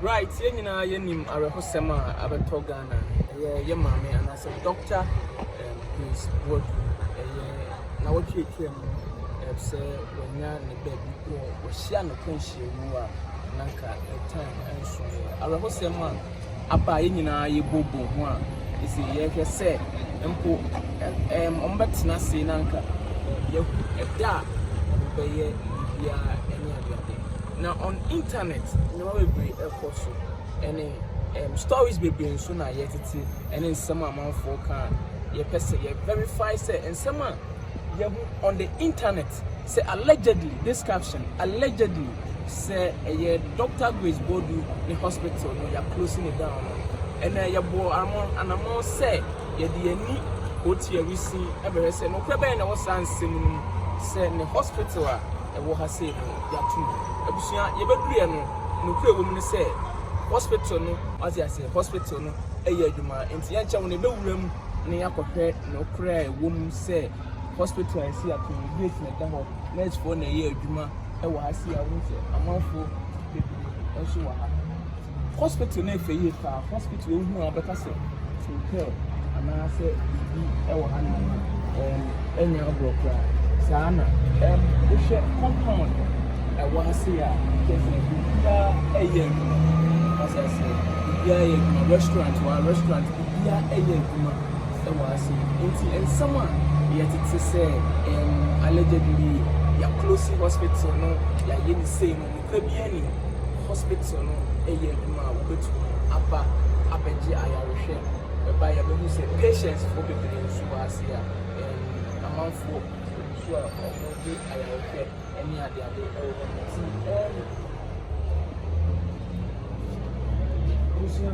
Right, yɛn nyinaa yɛnim awerɛhosɛm a abɛtɔ Ghana. Ɛyɛ yɛ maame anaasɛ Dɔkta Grace Boadu. Ɛyɛ na wɔtwe atwa mu sɛ wɔanya ne baabi wɔ wɔhyia no kwanhyia mu a nanka ɛtan nso yɛ awerɛhosɛm a Aber a hɛn nyina yɛbɔbɔ ho a, dze yɛhwɛ sɛ mpo wɔbɛtsena ase na anka yehu da a wɔbɛyɛ biribiara nye adzeadze. Na on internet, ndzɛmba beberee rokɔ so na stories beberee so na yɛtsetse na nsɛm a amamfo reka a yɛpɛ sɛ yɛ verify sɛ nsɛm a yehu on the internet, But sɛ allegedly this caption allegedly sɛ ɛyɛ Doctor Grace Bodu ne hospital no ya closing it down no ɛna yɛbɔɔ anamɔn sɛ yɛde yɛn ani otua wisi ɛbɛhwɛ sɛ nokorɛ bɛn na ɛwɔ saa nsɛm no mu sɛ ne hospital a ɛwɔ ha sei no yɛato mu abusua yɛbɛduruɛ no nokorɛ wɔ mu ne sɛ hospital no wate aseɛ hospital no ɛyɛ adwuma nti yɛnkyɛ wo no ɛbɛwura mu na yɛakɔhwɛ nokorɛ a ɛwɔ mu sɛ Hospital a ɛsi Atorney Gate na ɛda hɔ. Nursefoɔ na ɛyɛ adwuma wɔ ha sei a wohu sɛ amanfoɔ bebree nso wɔ ha. Hospital no yɛ fɛ yie paa. Hospital a wohu a wobɛka sɛ hotel anaasɛ biribi wɔ ha nom a, ɛɛm, ɛnyɛ agorɔ koraa. Saa na ɛɛm, wohwɛ compound ɛwɔ ha sei a, kyerɛ sɛ biribiara ɛyɛ adwuma. As I said, biribiara ɛyɛ adwuma. Restaurant wɔ ha, restaurant biribiara ɛyɛ adwuma. wɔ ase. Enti nsɛm a yɛte te sɛ ɛɛm allegedly, yɛaklosi hospital no, yɛayɛ no sei no, nokura biara nni ho. Hospital no yɛ adwuma a wɔbɛtumi aba abɛgye ayarehwɛ, bɛba a yɛbɛhu sɛ patientsfoɔ bebree nso wɔ ase a ɛɛm amanfoɔ bebree nso a wɔregye ayarehwɛ ne adeade wɔ hɔ no. Nti ɛɛm abusua.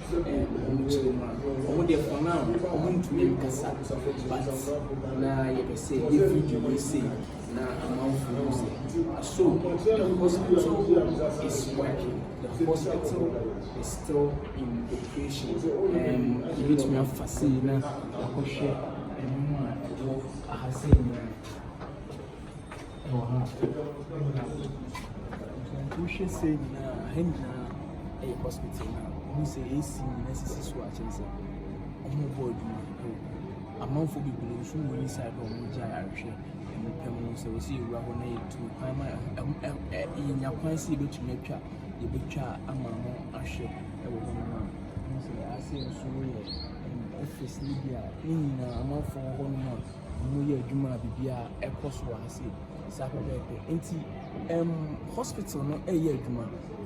Ɔmo kyerɛ mu a ɔmo deɛ for now ɔmo ntumi nkasa but na yɛpɛ sɛ yɛ video wei sei na amanfoɔ hu sɛ so the hospital is working the hospital is still in operation and yɛbɛtumi afa sei na yɛakɔhwɛ ɛnomo a ɛwɔ aha sei nyinaa. wɔ ha. Wohwɛ sɛ nyinaa, ha nyinaa ɛyɛ hospital na wohu sɛ AC nyinaa sisi so akyɛn sɛ wɔbɔ adwuma wɔ amanfo bebree nso wɔ ne side a wɔgye ayarehwɛ ɛmu pɛ mu sɛ wɔsi ewura hɔ na yɛtu kwan ma yɛnya kwan sɛ yɛbɛtumi atwa yɛbɛtwa ama no ahwɛ ɛwɔ hɔ no ma ase nso yɛ office no bi a ne nyinaa amanfo wɔ hɔ no ma wɔyɛ adwuma a biribiara ɛkɔ so ara sei saa pɛpɛɛpɛ. Nti um, hospital no ɛyɛ adwuma.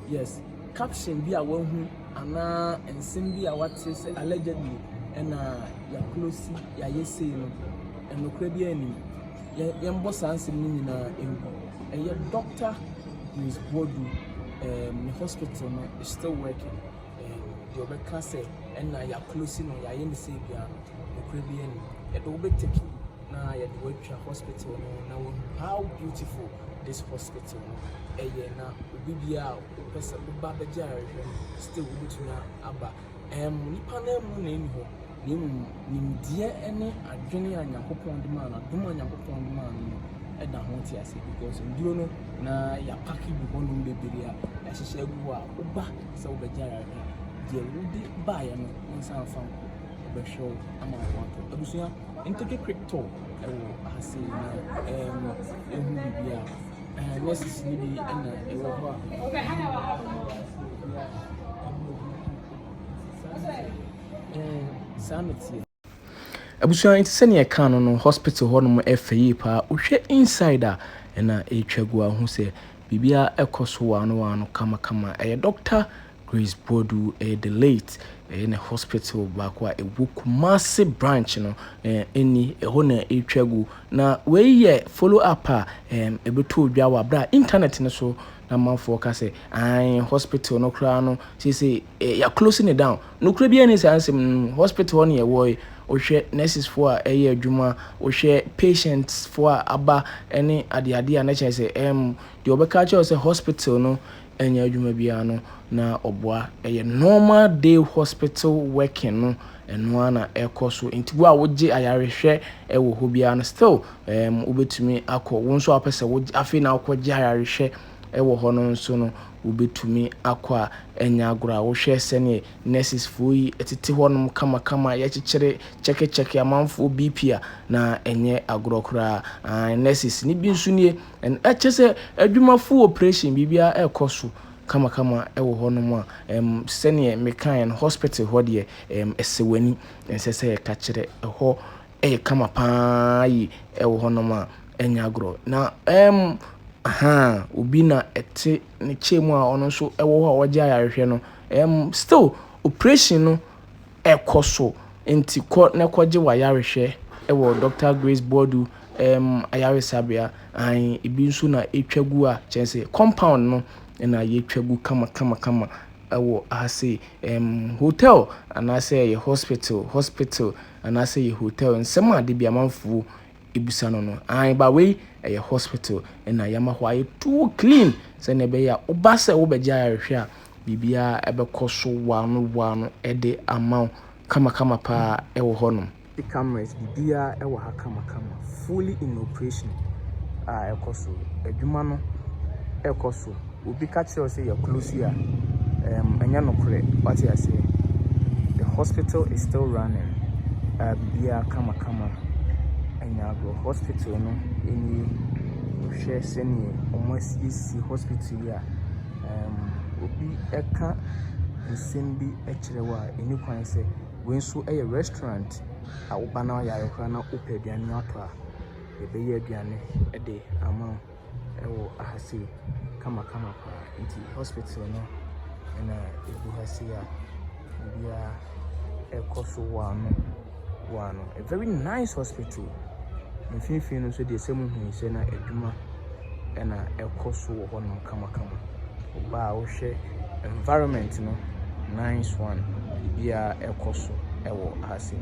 Yes, caption bi a wahu anaa nsɛm bi a wate sɛ allegedly ɛna yɛakolosi yɛayɛ sei no, ɛnokorɛ bi anim. Yɛmbɔ saa nsɛm no nyinaa ngu. Ɛyɛ Dr. Grace Boadu um, ne hospital no is still working. deɛ ɔbɛka sɛ ɛna yɛ close no yɛ ayɛ ne sei biara no nokorɛ biara ni yɛde wo bɛ take you na yɛde wo atwa hospital no na wɔhu how beautiful this hospital no ɛyɛ na obi biara a wopɛ sɛ woba bɛgye ayarehwɛ no still wobɛtumi aba ɛm nipa no amu na ɛni hɔ. na mmom nimdeɛ ne adwene a Nyankopɔn de maa no, adom a Nyankopɔn de maa no no da ho te ase because nduro no na yɛapake gu hɔnom bebree a yɛahyehyɛ agu hɔ a woba sɛ wobɛgye ayarehwɛ a deɛ wode baeɛ no wo nsa mfa nkɔ wobɛhwɛ wo ama wo atɔ abusua ntɛkɛ crypto ɛwɔ ase na ɛmu ehu biribi a ɛɛ nurses no bi ɛna ɛwɔ hɔ a Ɛɛn, saa na ɛteɛ. Abusua nti sɛnea ɛkaa no no hospital hɔ nom ɛfɛ yie paa wohwɛ inside a ɛna ɛtwa gu a wohu sɛ biribiara ɛkɔ so waano waano kama kama ɛyɛ Doctor Grace Boadu ɛyɛ the late ɛyɛ ne hospital baako a ɛwɔ Kumasi branch no ɛɛn ɛni ɛhɔ na ɛtwa gu na wei yɛ follow up a ɛɛn ɛbɛtoo dwa wɔ aberɛ a internet no so na amanfoɔ ka sɛ aane hospital no koraa no seesei eh, yɛ close ne down nokorɛ biara ne saa nsɛm no mu hospital hɔ ne yɛwɔ yi wohwɛ nurses foɔ a ɛyɛ adwuma wohwɛ patients foɔ a aba ne adeade a na kyerɛ sɛ ɛm deɛ ɔbɛka kyerɛ sɛ hospital no ɛnyɛ adwuma biara no na ɔboa ɛyɛ normal day hospital working no ɛno ara na ɛkɔ so nti wo a wogye ayarehwɛ ɛwɔ hɔ biara no still ɛm wobɛtumi akɔ wo nso a wopɛ sɛ wogye afei na wokɔgye ayarehwɛ wɔ hɔ no nso no wobɛtumi akɔ a ɛnyɛ agorɔ a wohwɛ sɛdeɛ nurses foɔ yi tete hɔ nom kamakama yɛkyekyere kyɛkekyɛke amanfoɔ BP a na ɛnyɛ agorɔ koraa aane nurses no bi nso nie ɛnɛ kyɛ sɛ adwuma full operation biribiara ɛkɔ so kamakama wɔ hɔ nom a ɛm sɛdeɛ mekaeɛ no hospital hɔ deɛ ɛm ɛsɛ w'ani ɛnsɛ sɛ yɛtakyerɛ ɛhɔ ɛyɛ kama paa yi wɔ hɔnom a, ɛnyɛ agorɔ. Na ɛm, ahaa, obi na ɛte ne chair mu a ɔno nso wɔ hɔ a wɔgye ayarehwɛ no, ɛm, still operation no ɛkɔ so. Nti kɔ na kɔgye w'ayarehwɛ wɔ Dɔkta Grace Boadu ɛm, ayaresabea. Ae, ebi nso na ɛtwa gu a, kyerɛ sɛ compound no na yɛatwa gu kama kama kama wɔ ha sei. Ɛm, hotel anaasɛ ɛyɛ hospital, hospital. Anaasɛ yɛ hotel nsɛm a dabi amanfoɔ bisa no no aane ba wei ɛyɛ hospital na yɛama hɔ ayɛ too clean sɛdeɛ ɛbɛyɛ a woba sɛ wobɛgye ayarehwɛ a biribiara ɛbɛkɔ so waano waano de ama wo kama kama paa ɛwɔ hɔ nom. City cameras biribiara ɛwɔ ha kama kama fully in operation a ɛkɔ so adwuma no ɛkɔ so. obi ka kyerɛ wo sɛ yɛ close yi a, ɛɛm, ɛnyɛ nokorɛ. Wate aseɛ? The hospital is still running. Ah, biribiara kamakama. Ɛnyɛ agorɔ. Hospital no nie. Wohwɛ sɛdeɛ wɔasiesie hospital yi a, ɛɛm, obi ka nsɛm bi kyerɛ wo a, ɛnni kwan sɛ wei nso yɛ restaurant a woba na woyare koraa na wopɛ aduane atɔ a, yɛbɛyɛ aduane de ama wo. ɛwɔ aha sei kamakama paa. Nti hospital no na ɛgu ha sei a biribiara ɛrekɔ so wɔ ano wɔ ano. A very nice hospital. Mfimfini no nso deɛ sɛ mohu sɛ na adwuma na ɛrekɔ so wɔ hɔnom kamakama. Wo ba a wohwɛ environment no, nice one. Biribiara ɛrekɔ so wɔ ha sei.